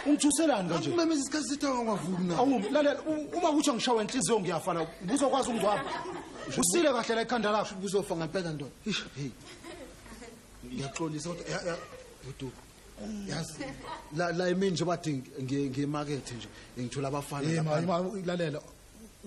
Ungithuselani kanje? Umemeza isikhathi sithawa ngavumi na. Awu lalela u- uma kuthi angishawa inhliziyo ngiyafa la. Ubuzokwazi ungizwapha. Usile kahle la ekhanda lakho. Ubuzofa ngempela ndoda. Ish, hey. Ngiyaxolisa kodwa ya- ya- udubo. yazi la la imini nje bathi ngi- ngimakethe nje ngithola abafana Eh, ma- laphana. ma- lalela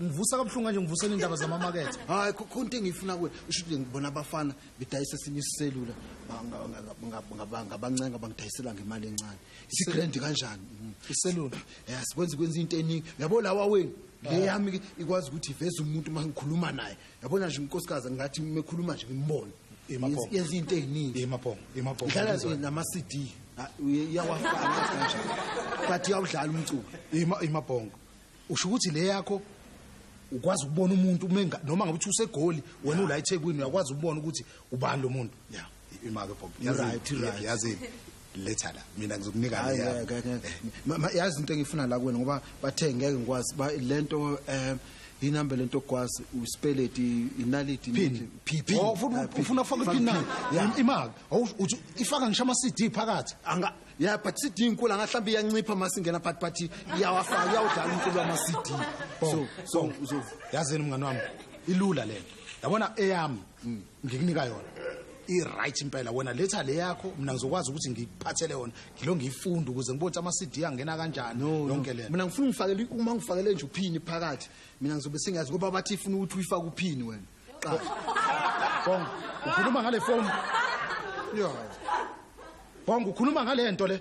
ngivusa kabuhlungu kanje ngivusela indaba zamamakethe hayi kho- khona into engiyifuna kuwe usho ukuthi ngibona abafana bedayisa esinye isiselula ba- nga- nga- nga- nga- nga- ngabancenga bangidayisela ngemali encane isigrand kanjani Mm. iselula ya sikwenza kwenza into eningi yabo lawa wenu le yami ke ikwazi ukuthi iveze umuntu uma ngikhuluma naye yabona nje unkosikazi ngathi mekhuluma nje ngimbone yenza into eziningi yemaphongo yemaphongo idlala nje nama CD iyawafaka kanjani but iyawudlala umculo yemabhongo usho ukuthi le yakho ukwazi ukubona umuntu noma ngabe uthi usegoli wena ula eThekwini uyakwazi ukubona ukuthi ubani lo muntu yeah imake bob Right, right. yazi letha la mina ngizokunika Hayi, le ngeke, yami. ngeke. Ma- ma- yazi into engifuna la kuwena ngoba bathe ngeke ngikwazi ba- lento um inamba lento okwazi uspeleti inaliti Pin, pin, pin. Oh, ufuna- ufuna ufake ipin na Yeah. imake Awusho- uthi ifaka ngisho ama CD phakathi anga ya but cd inkulu angahlawumbe iyancipha uma singena but but iyawafaka iyawudlala umculo wama-cd so so so yazini mngani wami ilula lento yabona eyami ngikunika yona i-right impela wena letha le yakho mina ngizokwazi ukuthi ngikuphathele yona ngilo ngiyifunde ukuze ngibone ukuthi ama-cd angena kanjani yonke lena mina ngifuna ungifakele uma ngifakele nje uphini phakathi mina ngizobe singazi ngoba bathi ifuna ukuthi uyifake uphini wena qala bonga ukhuluma ngale foni yo bonga ukhuluma ngale nto le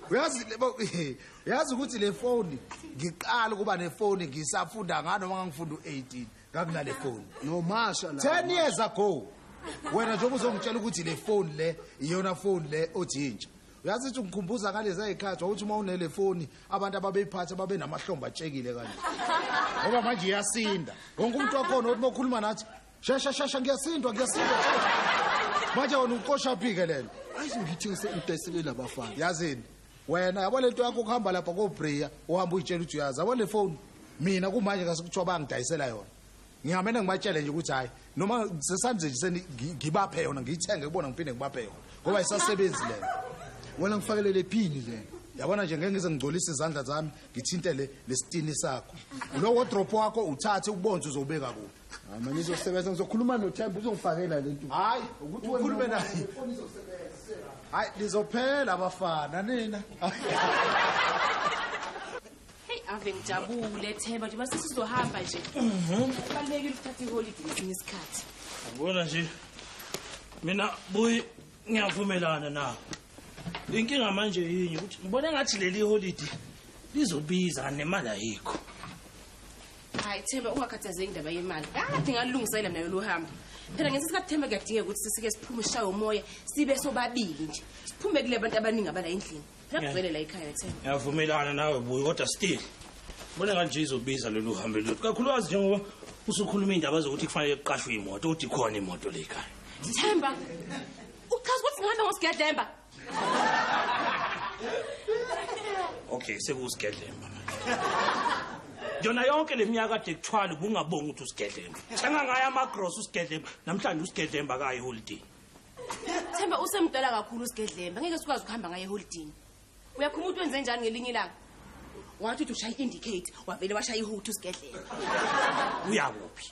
uyazi uyazi ukuthi le foni ngiqala ukuba nefoni ngisafunda ngani noma ngangifunda u-18 ngakunale foni nomasha la 10 years ago wena njengoba uzongitshela ukuthi le foni le iyona foni le othi intsha uyazi ukuthi ungikhumbuza ngalezi ayikhathi wawuthi uma unele foni abantu ababeyiphatha babe namahlomba atshekile kanje ngoba manje iyasinda wonke umuntu wakhona ukuthi mokhuluma nathi shesha shesha ngiyasindwa ngiyasindwa manje wena uqoshaphike lena ayi ngithengise idayisele labafana yazini wena yabo lento yakho kuhamba lapha kobreya uhamba uyitshela ukuthi uyazi yabo le phone mina kumanje kasikuthiwa bangidayisela yona ngihamene ngibatshele nje ukuthi hhayi noma sesanje nje ngibaphe yona ngiyithenge kubona ngiphinde ngibaphe yona ngoba isasebenzi lena wena ngifakelele phini lena yabona nje ngeke ngize ngigcolise izandla zami ngithinte le lesitini sakho lo wardrobe wakho uthathe ubonze uzobeka kuphi Hayi manje izosebenza ngizokhuluma noThemba uzongifakela lento. Hayi ukuthi ukhulume naye. Hayi lizophela abafana nina. Hey ave ngijabule Themba nje base sizohamba nje. Mhm. Kubalekile ukuthatha iholiday ngesinye isikhathi. Ngibona nje. Mina buyi ngiyavumelana nawe. Inkinga manje yini ukuthi ngibona ngathi leli holiday lizobiza nemali ayikho. hayi themba ungakhathazeki indaba yemali kade ngalungisela mina lolu hambo phela ngesinye isikhathi themba kuyadingeka ukuthi sisike siphume sishaye umoya sibe sobabili nje siphume kule bantu abaningi abala endlini phela Yeah. kugcwele la ekhaya themba ngiyavumelana nawe buyi kodwa still bona kanje izobiza lolu hambe lolu kakhulukazi njengoba usukhuluma iy'ndaba zokuthi kufanele kuqashwe imoto ukuthi ikhona imoto le ekhaya themba uchaza ukuthi ngihamba ngosigadlemba okay sekuwusigedlemba yona yonke le minyaka kade kuthwala ubungabongi ukuthi usigedlemba thenga ngayo amagrosa usigedlemba namhlanje usigedlemba kayo eholidini themba usemdala kakhulu usigedlemba ngeke sikwazi ukuhamba ngayo eholidini uyakhuma ukuthi wenze njani ngelinye ilanga wathi uthi ushaya i-indicate wavele washaya ihuthi usigedlemba uyakuphi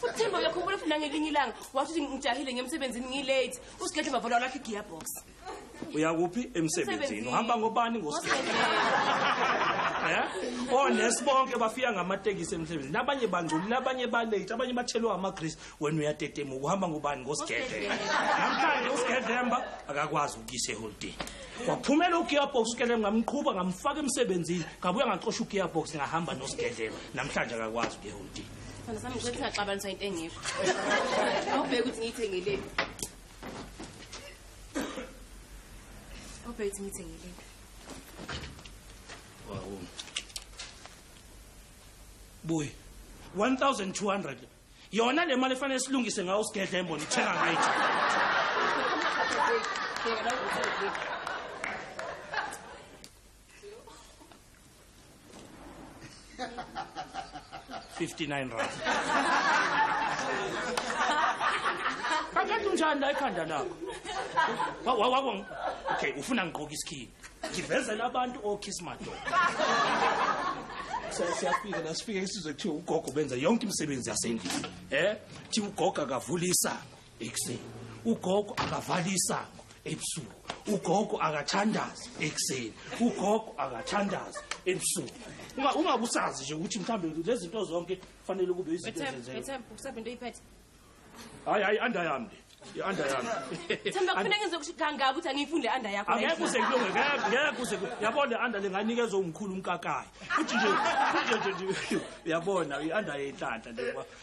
futhi themba uyakhumbula futhi nangelinye ilanga wathi ukuthi ngijahile ngemsebenzini ngilate usigedle mavola walakho igearbox uyakuphi emsebenzini uhamba ngobani ngosibili eh onesi bonke bafika ngamatekisi emsebenzini abanye bangcolile abanye balate abanye bathelwa amagrease wena uyatetemuka uhamba ngobani ngosigedle namhlanje usigedlemba akakwazi ukuyise holiday waphumela ugearbox kele ngamqhuba ngamfaka emsebenzini ngabuya ngaxosha ugearbox ngahamba nosigedlela namhlanje akakwazi ukuyeholiday Sithanda sami ukuthi ngaxabaniswa into engekho. Awubheke ukuthi ngiyithengeleni. Awubheke ukuthi ngiyithengeleni. Wow. Boy. 1200 yona le mali efanele silungise ngawo sigedle embona ithenga ngayo 59 rand kakade unjani la ekhanda lakho Wa- wa- wako ng- okay ufuna ngigqoke isikhini ngivezela abantu okiss madoda Siya- siyafika nasifike isizwe kuthiwa ugogo benza yonke imisebenzi yasendlini um kuthiwa ugogo akavula isango ekuseni ugogo akavali isango ebusuku ugogo akathandazi ekuseni ugogo akathandazi ebusuku Unga- ungakusazi nje ukuthi mhlawumbe lezi zinto zonke kufanele kube izinto Bethemba, ezenzeka Bethemba, ukusapha into oyiphethe. hayi hayi anda yami le i-anda yami Themba kufanele ngenze ukuthi kangaka ukuthi angiyifundi le under yakho. angeke uze kulunge ngeke ngeke uze kulunge. yabona le anda le nganikeza umkhulu umkakayi futhi nje futhi nje nje uyabona i-anda yenhlanhla nje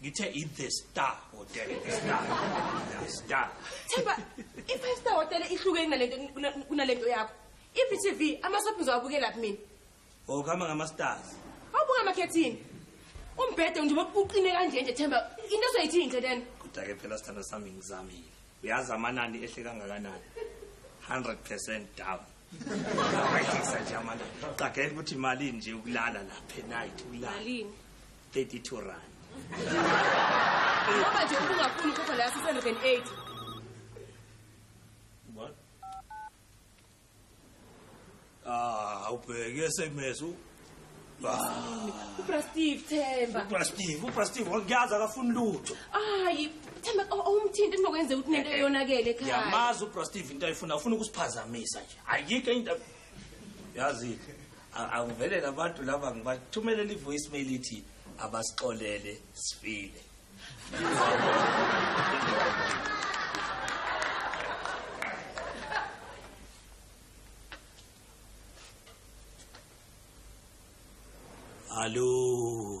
ngithe i-the star hotel the star the star themba i-five star hotel ihlukeni nalento kunalento yakho iphi tv amasophi ngizowabukelaphi mina okuhamba oh, ngama-stars awubuka amakhethini umbhede njengoba uqine kanje nje themba into ezoyithini nje lena kodwa-ke phela sithanda sami ngizamile uyazi amanani ehle kangakanani 100 percent down awehlisa nje amanani qagela ukuthi imalini nje ukulala lapha enayithi ukulala 32 rand ngoba nje ubungafuni ukhokha leya 680 what ah ubheke sms u ubrastive themba ubrastive ubrastive wangiyazi akafuni lutho hayi themba awumthinti ndinokwenzeka ukuthi nento eyonakele ekhaya yamazi ubrastive into ayifuna ufuna ukusiphazamisa nje ayikho into yazile Akuvele labantu laba ngibathumelela ivoice mail ithi abasixolele sifile. Hallo.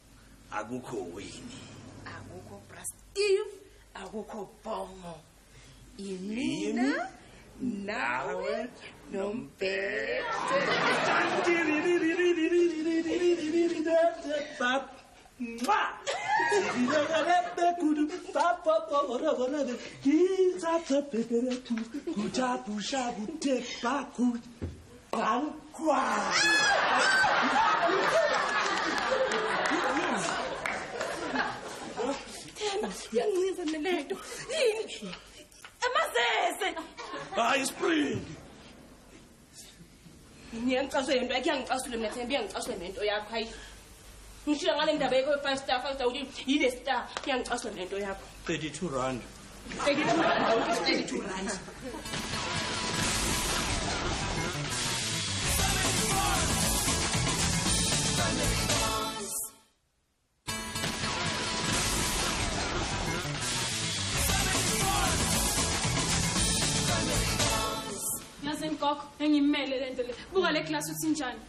akukho wini akukho bra steve akukho bongo imina nawe nombhede He's up the paper to Kutabusha Gute Bakut Themba, uyancinza mina lento. Yini? Amazese. Hayi spring. Ngiyangicasula into yakhe, iyangicasula mina Themba, iyangicasula nento yakho. Hayi. ngishilo ngale ndaba yekho ye-five star five star ukuthi yile star iyangicaswa nento yakho 32 rand 32 rand awuthi 32 rand yazi mgogo engimele le nto le buka le klasi uthinjani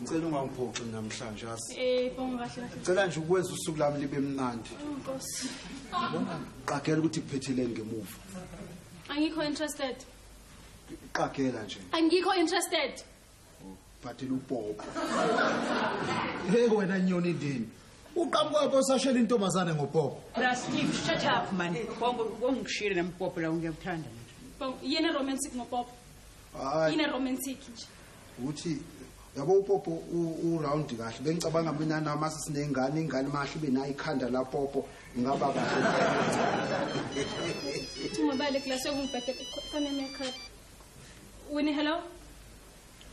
Ngicela ungangiphoxi namhlanje asi. Eh, bonga kahle kahle. Ngicela nje ukwenza usuku lami libe mnandi. Oh, Nkosi. Qagela ukuthi kuphethile ngemuva. Angikho interested. Qagela nje. Angikho interested. Phathela upopo. Hey wena nyoni ndini. Uqhamuka pho sashela intombazane ngopopo. Bra Steve, shut up man. Bongo ungishire nampopo la ngiyakuthanda. Bonga yena romantic ngopopo. Hayi. Yena romantic nje. ukuthi yabo upopo uround kahle bengicabanga mina nami asisinengane ingane mahle ibe nayo ikhanda lapopo ingaba kahle ungabale kulase kumbhede kone makeup wini hello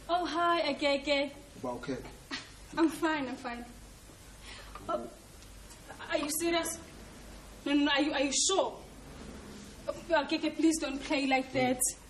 oh hi akeke uba okay i'm fine i'm fine oh, are you serious no no are you are you sure akeke please don't play like that mm.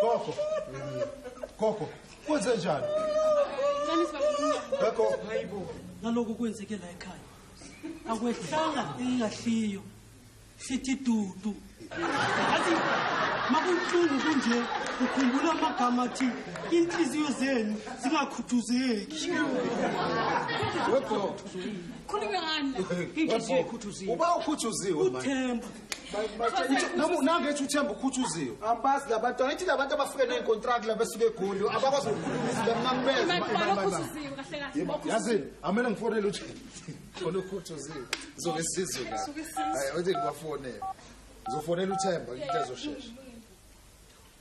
Gogo. Gogo, kwenze njani? Nani sibabona. Gogo, hayibo. Naloku kwenzeke la ekhaya. Akwehlanga ingahliyo. Sithi dudu. Athi makunhlungu kunje ukhumbula amagama athi inhliziyo zenu zingakhuthuzeki. Gogo. Khuluma ngani? Inhliziyo ikhuthuziwe. Uba ukhuthuziwe manje. Uthemba. nangethi uthemba ukhuthuziwe ambazi labantwana ithi labantu abafike ney'kontrakt la besuke egoli abakwazi ukukhulumisilamnanibezeyazini amele ngifonele uthi khona ukhuthuziwe zoke sizwe la ayi othi ngibafonele ngizofonela uthemba into ezoshesha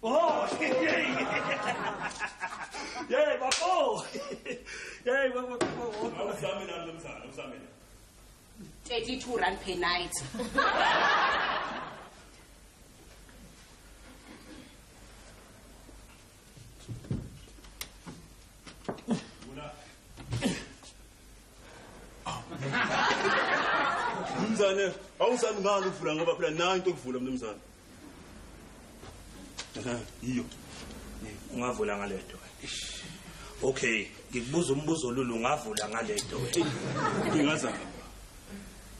Oh, yey bafo. Yey bafo. Awusami nami lomzana, awusami. 32 rand per night. Mnumzane, awusami ngani ukuvula ngoba phela nayo into okuvula mnumzane. yiyo ungavula ngalento okay ngikubuza umbuzo lulu ungavula ngalento ingazama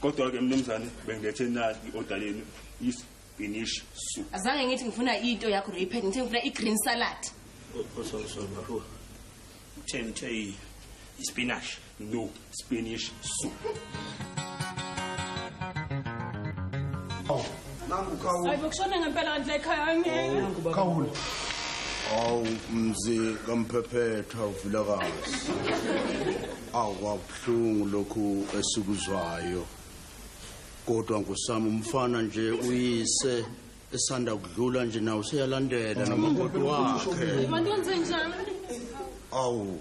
kodwa-ke mnumzane bengilethe nali i-oda yenu isinish soup azange ngithi ngifuna into yakho repet ngithe ngifuna i-green salad oh, oh, sorry sorry bafo uthe ngithe ispinashi no spanish soup oh nangu kawu ayibo kushona ngempela kanti ekhaya angeke oh, kawu awu mzi kamphephethwa uvulakazi awu kwabuhlungu lokhu esikuzwayo kodwa ngosami umfana nje uyise esanda kudlula nje nawo seyalandela namakoti wakhe awu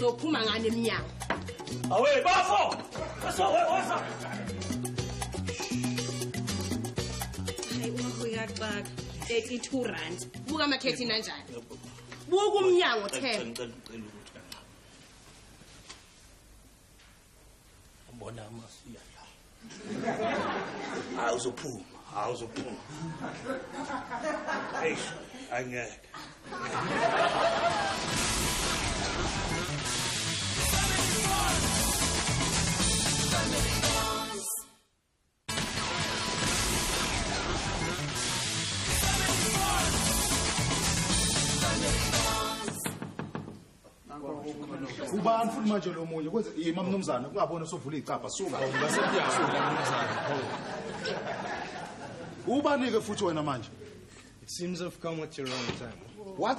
sophuma ngani emnyango awe bafo bafo woza uyaxaka 32 rand buka amakhethi nanjani buka umnyango 10 ubona amasu uyadlala hayi uzophuma hayi uzophuma eish angeke ubani futhi manje lo munye kwenze yima mnumzane kungabona usuvula icabha suka ngasekuyasola mnumzane ubani-ke futhi wena manje it seems i've come at the wrong time what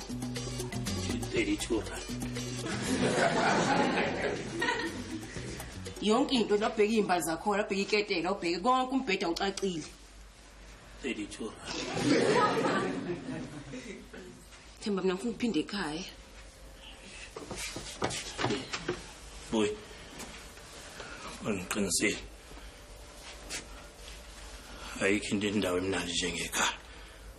32 rand yonke into labheka iy'mba zakhona labheka iketela ubheke konke umbheda ucacile 32 rand themba mina ngifuna ukuphinde ekhaya boy angiqinisile ayikho into endawo emnandi njengekhaya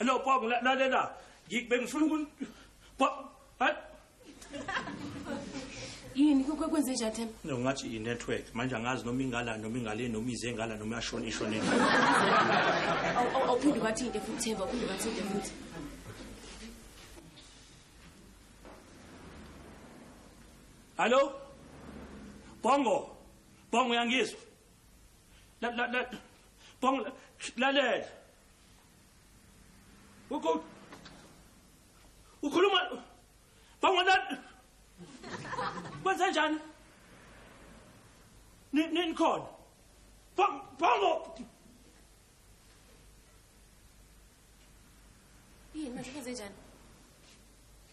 No, Bob, la- lalela. Ngi- Bengifuna ukun... Bob, ha- yini kwe- kwe- kwenze njani themba No, ngathi i-network. Manje angazi noma ingala, noma ingale, noma ize ingala, noma yashona, ishone. Awu- awu- awuphinde ubathinte futhi themba uphinde ubathinte futhi Hallo? Bongo. Bongo uyangizwa? La la la Bongo la- lalela. Ukhuluma ukhuluma bangona kwenze njani? Nini khona? Bongo Yini manje kwenze njani?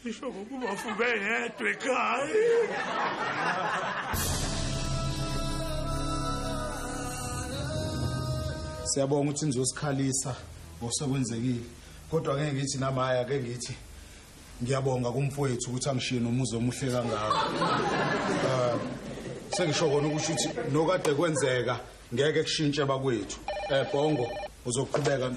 Ngisho ngokuba ufube yedwa ekhaya. Siyabonga ukuthi nizosikhalisa ngosekwenzekile. Kodwa ngeke ngithi namaya ke ngithi ngiyabonga kumfowethu ukuthi angishiye nomuzi omuhle kangaka. Ah, sengisho kona ukuthi uthi nokade kwenzeka ngeke kushintshe bakwethu. Eh Bongo uzoqhubeka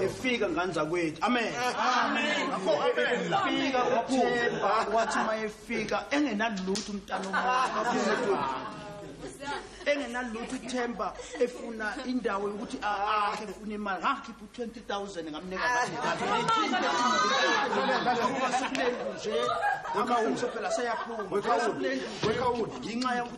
efika ngane zakwethu amen fika wathemba wathi uma efika engenalutho umntana omuhle engenalutho ithemba efuna indawo yokuthi akhe efuna imali ngakhipha u-twenty thousand ngamnika nje akausho phela seyaphuma ngenxa yokuthi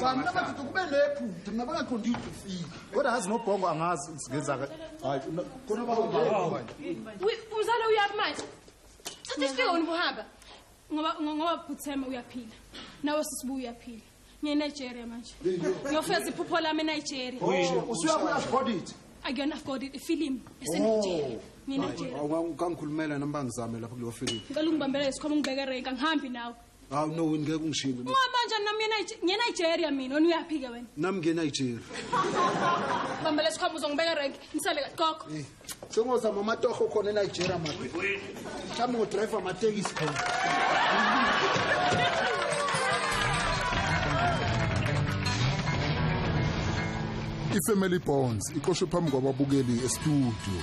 Cha mina bathi kube lephu mina bangaqondi idufile. Kodwa ngazi nobhongo angazi ngizenza hayi khona bawuba. Umzali uyaphi manje? Thatha isifika wena ubuhamba. Ngoba ngoba bhuthema uyaphila. Nawe sisibuya uyaphila. ngiyenigeria manje ngiyofeza iphupho lami enigeria oh, usuya ku-afford it akuyona afford it ifilimu esenigeria nginigeriakangikhulumela oh, oh, noma ngizame lapho kuleyo filimu ngicela ungibambela isikhoma ungibeke renka ngihambi nawe hawu no wini ngeke ungishiye ungihamba njani nami ngenigeria mina wena uyaphi-ke wena nami ngenigeria bambela isikhoma uzongibeka renki ngisale gogo eh. sengozama amatoho khona enigeria ma mhlawumbe ngodrayiva amatekisi khona ifamily bonds iqoshwe phambi kwababukeli estudio